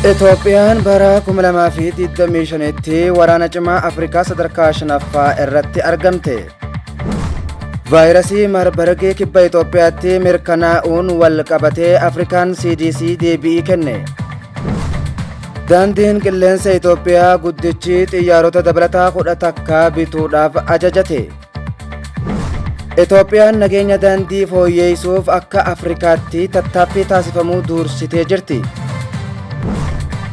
Itoophiyaan bara 2025tti waraana cimaa Afrikaa sadarkaa shanaffaa irratti argamte. Vaayirasii Marbargee kibba Itoophiyaatti mirkanaa'uun wal qabatee Afrikaan CDC deebi'ii kenne. Daandiin qilleensa Itoophiyaa guddichi xiyyaarota dabalataa kudha takka bituudhaaf ajajate. Itoophiyaan nageenya daandii fooyyeessuuf akka Afrikaatti tattaaffii taasifamuu duursitee jirti.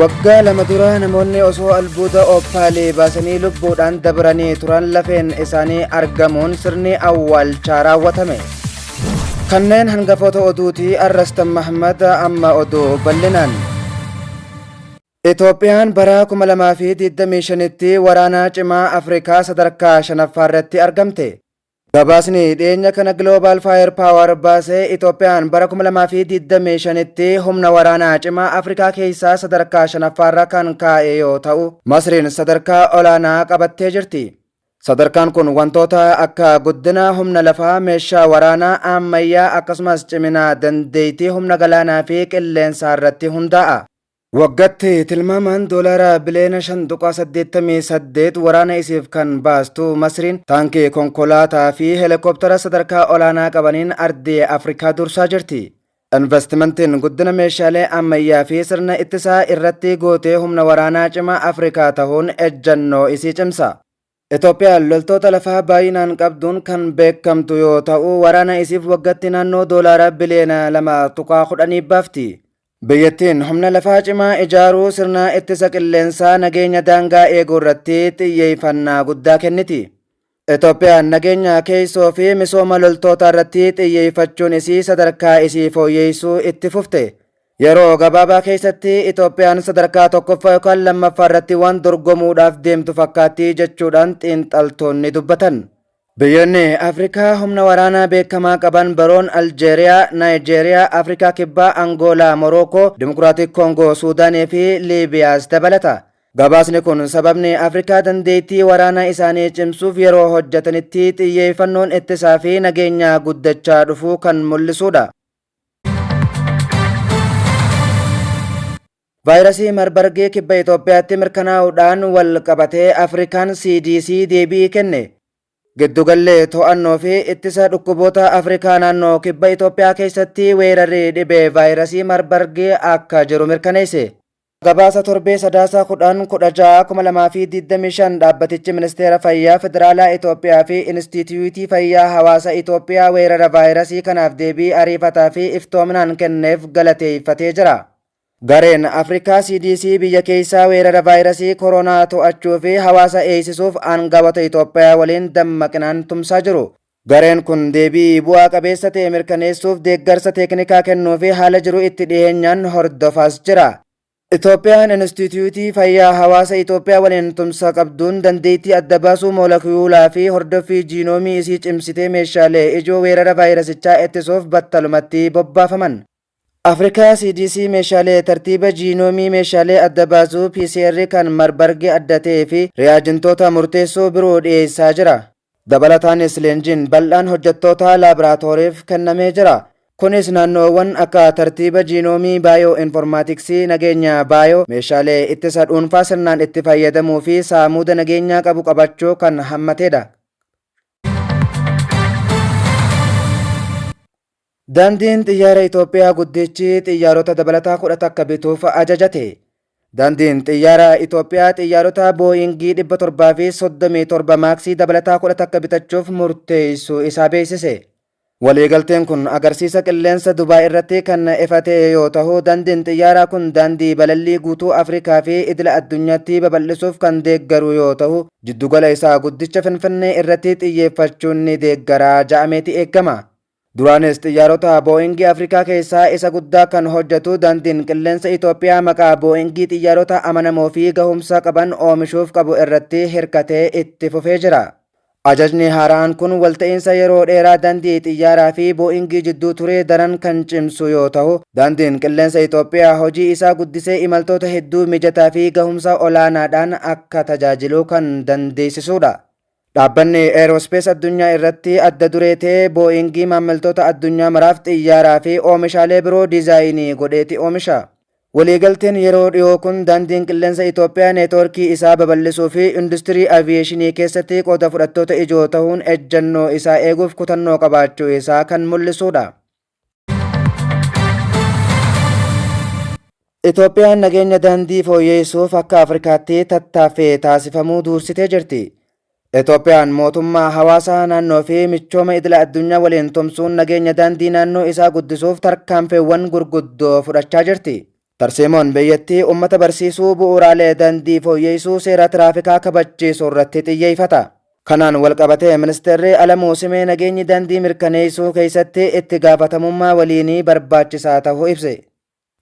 Waggaa lama dura namoonni osoo albuuda ooppaalii baasanii lubbuudhaan dabranii turan lafeen isaanii argamuun sirni awwaalchaa raawwatame. Kanneen hangafoota oduuti Arrastan Mahmad amma oduu bal'inaan. Itoophiyaan bara 2025tti waraana cimaa Afrikaa sadarkaa 5ffaarratti argamte. Gabaasni dhiyeenya kana Global Firepower baase Itoophiyaan bara 2025tti humna waraanaa cimaa Afrikaa keessaa sadarkaa 5ffaarra kan kaa'e yoo ta'u, Masriin sadarkaa olaanaa qabattee jirti. Sadarkaan kun wantoota akka guddina humna lafaa, meeshaa waraanaa ammayyaa akkasumas cimina dandeettii humna galaanaa fi qilleensaarratti hundaa'a. Waggatti tilmaamaan doolaara biliyoona 5.88 waraana isiif kan baastu Masriin taankii, konkolaataa fi helikoptara sadarkaa olaanaa qabaniin ardii Afrikaa dursaa jirti. Invastimantiin guddina meeshaalee ammayyaa fi sirna ittisaa irratti gootee humna waraanaa cimaa Afrikaa tahuun ejjannoo isii cimsa. Itoophiyaan loltoota lafaa baay'inaan qabduun kan beekamtu yoo ta'u, waraana isiif waggatti naannoo doolaara biliyoona 2.10 baafti. Biyyattiin humna lafaa cimaa ijaaruu, sirna ittisa qilleensaa, nageenya daangaa eeguu irratti xiyyeeffannaa guddaa kenniti. Itoophiyaan nageenya keessoo fi misooma loltootaa irratti xiyyeeffachuun isii sadarkaa isii fooyyeessuu itti fufte. Yeroo gabaabaa keessatti Itoophiyaan sadarkaa tokkoffaa yookaan lammaffaa irratti waan dorgomuudhaaf deemtu fakkaatti jechuudhaan xiinxaltoonni dubbatan. Biyyoonni Afrikaa humna waraanaa beekamaa qaban biroon Aljeeriyaa, Naayijeeriyaa, Afrikaa Kibbaa, Angoolaa, Morookoo, Dimokiraatik Koongoo, Suudaanii fi Liibiyaas dabalata. Gabaasni kun sababni Afrikaa dandeettii waraanaa isaanii cimsuuf yeroo hojjetanitti xiyyeeffannoon ittisaa fi nageenyaa guddachaa dhufuu kan mul'isuudha. Vaayirasii Marbargii kibba Itoophiyaatti mirkanaa'uudhaan wal qabatee Afrikaan CDC deebii kenne. Giddugalli to'annoo fi ittisa dhukkuboota Afrikaa naannoo kibba Itoophiyaa keessatti weerarri dhibee vaayirasii Marbargii akka jiru mirkaneesse. Gabaasa torbee Sadaasaa 10, 16, 2025 dhaabbatichi Ministeera Fayyaa Federaalaa Itoophiyaa fi Inistiitiyuutii Fayyaa Hawaasa Itoophiyaa weerara vaayirasii kanaaf deebii ariifataa fi iftoominaan kenneef galateeffatee jira. Gareen Afrikaa CDC biyya keessaa weerara vaayirasii koroonaa to'achuu fi hawaasa eeysisuuf aangawota Itoophiyaa waliin dammaqinaan tumsaa jiru. Gareen kun deebii bu'aa qabeessa ta'e mirkaneessuuf deeggarsa teeknikaa kennuufi haala jiru itti dhiyeenyaan hordofaas jira. Itoophiyaan Inistiitiyuutii Fayyaa Hawaasa Itoophiyaa waliin tumsa qabduun dandeettii adda baasuu moolakiyuulaafi hordoffii jiinoomii isii cimsitee meeshaalee ijoo weerara vaayirasichaa ittisuuf battalumatti bobbaafaman Afrikaa, CDC, meeshaalee tartiiba jiinoomii, meeshaalee adda baasuu, PCR, kan Marburg adda ta'ee fi ri'aajentoota murteessoo biroo dhiyeessaa jira. Dabalataanis leenjiin bal'aan hojjettoota laaboraatooriif kennamee jira. Kunis naannoowwan akka tartiiba jiinoomii, baayoo'informaatiksii, nageenya baayoo, meeshaalee ittisa dhuunfaa sirnaan itti fayyadamuu fi saamuuda nageenyaa qabu qabachuu kan hammatedha. Daandiin Xiyyaara Itoophiyaa Guddichi Xiyyaarota Dabalataa 11 Bituuf Ajajate. Daandiin Xiyyaara Itoophiyaa Xiyyaarota Booyingii 737 Maaksii Dabalataa 11 bitachuuf murteessuu isaa beeksise. Waliigalteen kun agarsiisa qilleensa Dubaay irratti kan ifa ta'e yoo tahu, daandiin xiyyaaraa kun daandii balallii guutuu Afrikaa fi idila addunyaatti babal'isuuf kan deeggaru yoo tahu, jiddugala isaa guddicha Finfinnee irratti xiyyeeffachuun ni deeggara ja'ameeti eeggama. Duraanis xiyyaarota Boo'ingii Afrikaa keessaa isa guddaa kan hojjetu dandiin qilleensa Itoophiyaa maqaa Boo'ingii xiyyaarota amanamoo fi gahumsa qaban oomishuuf qabu irratti hirkatee itti fufee jira. Ajajni haaraan kun walta'iinsa yeroo dheeraa dandii xiyyaaraa fi Boo'ingii jidduu ture daran kan cimsu yoo tahu, dandiin qilleensa Itoophiyaa hojii isaa guddisee imaltoota hedduu mijataa fi gahumsa olaanaadhaan akka tajaajilu kan dandeessisuudha. Dhaabbanni Eeroospees addunyaa irratti adda duree ta'e Booyingii maammiltoota addunyaa maraaf xiyyaaraa fi oomishaalee biroo diizaayinii godheeti oomisha. Waliigalteen yeroo dhiyoo kun Daandiin Qilleensa Itoophiyaa neetwoorkii isaa babal'isuu fi industirii aviyeeshinii keessatti qooda fudhattoota ijoo tahuun ejjannoo isaa eeguuf kutannoo qabaachuu isaa kan mul'isuu dha. Itoophiyaan nageenya daandii fooyyeessuuf akka Afrikaatti tattaaffii taasifamuu duursitee jirti. Itoophiyaan mootummaa hawaasaa naannoo fi michooma idila addunyaa waliin tumsuun nageenya daandii naannoo isaa guddisuuf tarkaanfiiwwan gurguddoo fudhachaa jirti. Tarsiimoon biyyattii ummata barsiisuu, bu'uuraalee dandii fooyyeessuu, seera tiraafikaa kabachiisuu irratti xiyyeeffata. Kanaan walqabatee Ministeerri Alamuu Simee nageenyi dandii mirkaneessuu keessatti itti gaafatamummaa waliinii barbaachisaa ta'uu ibse.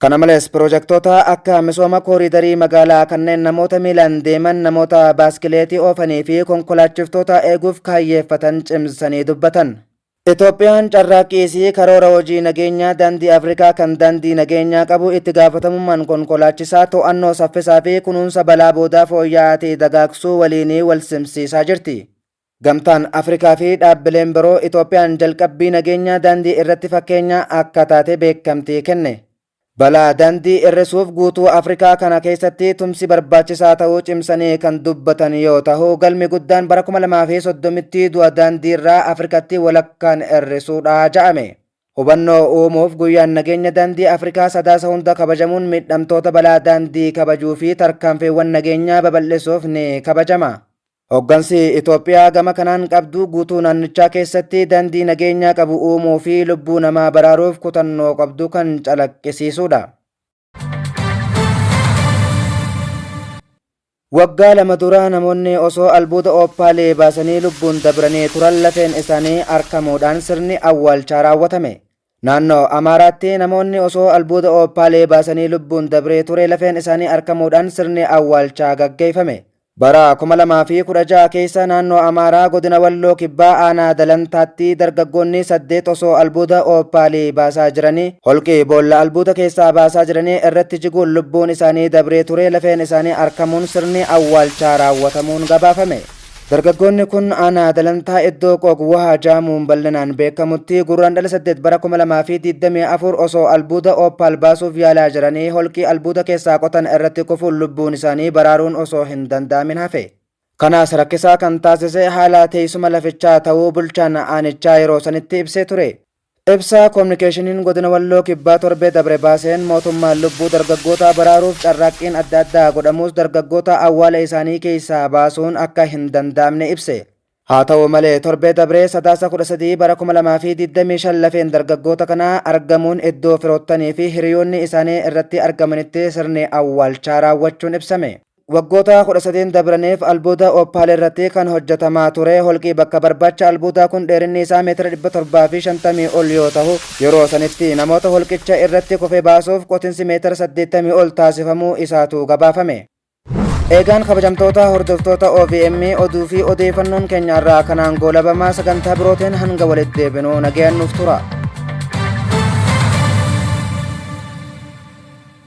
Kana malees piroojektoota akka misooma kooriidarii magaalaa kanneen namoota miilaan deeman, namoota baaskileetii oofanii fi konkolaachiftoota eeguuf kaayyeeffatan cimsanii dubbatan. Itoophiyaan carraaqqii isii karoora hojii nageenyaa Daandii Afrikaa kan daandii nageenyaa qabu, itti gaafatamummaan konkolaachisaa, to'annoo saffisaa fi kunuunsa balaa boodaa fooyya'aa ta'e dagaagsuu waliin wal simsiisaa jirti. Gamtaan Afrikaa fi dhaabbileen biroo Itoophiyaan jalqabbii nageenyaa daandii irratti fakkeenyaa akka taate beekamtii kenne. Balaa dandii irrisuuf guutuu Afrikaa kana keessatti tumsi barbaachisaa ta'uu cimsanii kan dubbatan yoo tahu galmi guddaan bara 2030tti du'a daandii irraa Afrikatti walakkaan irrisuudha ja'ame. Hubannoo uumuuf guyyaan nageenya daandii Afrikaa sadaasa hunda kabajamuun miidhamtoota balaa daandii kabajuu fi tarkaanfiiwwan nageenyaa babal'isuuf ni kabajama. Hoggansi Itoophiyaa gama kanaan qabdu guutuu naannichaa keessatti dandii nageenyaa qabu uumuu fi lubbuu namaa baraaruuf kutannoo qabdu kan calaqqisiisuudha. Waggaa lama dura namoonni osoo albuuda ooppaalee baasanii lubbuun dabranii turan lafeen isaanii arkamuudhaan sirni awwaalchaa raawwatame. Naannoo Amaaraatti namoonni osoo albuuda Ooppaalee baasanii lubbuun dabree ture lafeen isaanii arkamuudhaan sirni awwaalchaa gaggeeffame. Bara 2016 keessa naannoo Amaaraa godina Walloo Kibbaa aanaa Dalantaatti dargaggoonni saddeet osoo albuuda Ooppaalii baasaa jiranii holqi boolla albuuda keessaa baasaa jiranii irratti jiguun lubbuun isaanii dabree ture lafeen isaanii arkamuun sirni awwaalchaa raawwatamuun gabaafame. Dargaggoonni kun aanaa Dalantaa iddoo Qoog Wahaa jaamuun bal'inaan beekamutti Gurraandhala 8 bara 2024 osoo albuuda Opal baasuuf yaalaa jiranii holqii albuuda keessaa qotan irratti kufuun lubbuun isaanii baraaruun osoo hin danda'amin hafe. Kanas rakkisaa kan taasise haala teessuma lafichaa ta'uu bulchaan aanichaa yeroo sanitti ibsee ture. Ibsa Kominikeeshiniin Godina Walloo Kibbaa torbee dabre baaseen mootummaan lubbuu dargaggootaa baraaruuf carraaqqiin adda addaa godhamuus dargaggoota awwaala isaanii keessaa baasuun akka hin danda'amne ibse. Haa ta'u malee torbee dabree Sadaasa 13 bara 2025 lafeen dargaggoota kanaa argamuun iddoo firoottanii fi hiriyoonni isaanii irratti argamanitti sirni awwaalchaa raawwachuun ibsame. Waggoota 13 dabraniif albuuda Oppaal irratti kan hojjetamaa ture holqi bakka barbaacha albuudaa kun dheerinni isaa meetira 750 ol yoo tahu, yeroo sanitti namoota holqicha irratti kufe baasuuf qotinsi meetira 80 ol taasifamuu isaatu gabaafame. Eegaan kabajamtoota hordoftoota OVM oduu fi odeeyfannoon keenya har'aa kanaan goolabama sagantaa birooteen hanga walitti deebinu nagayaan nuuf tura.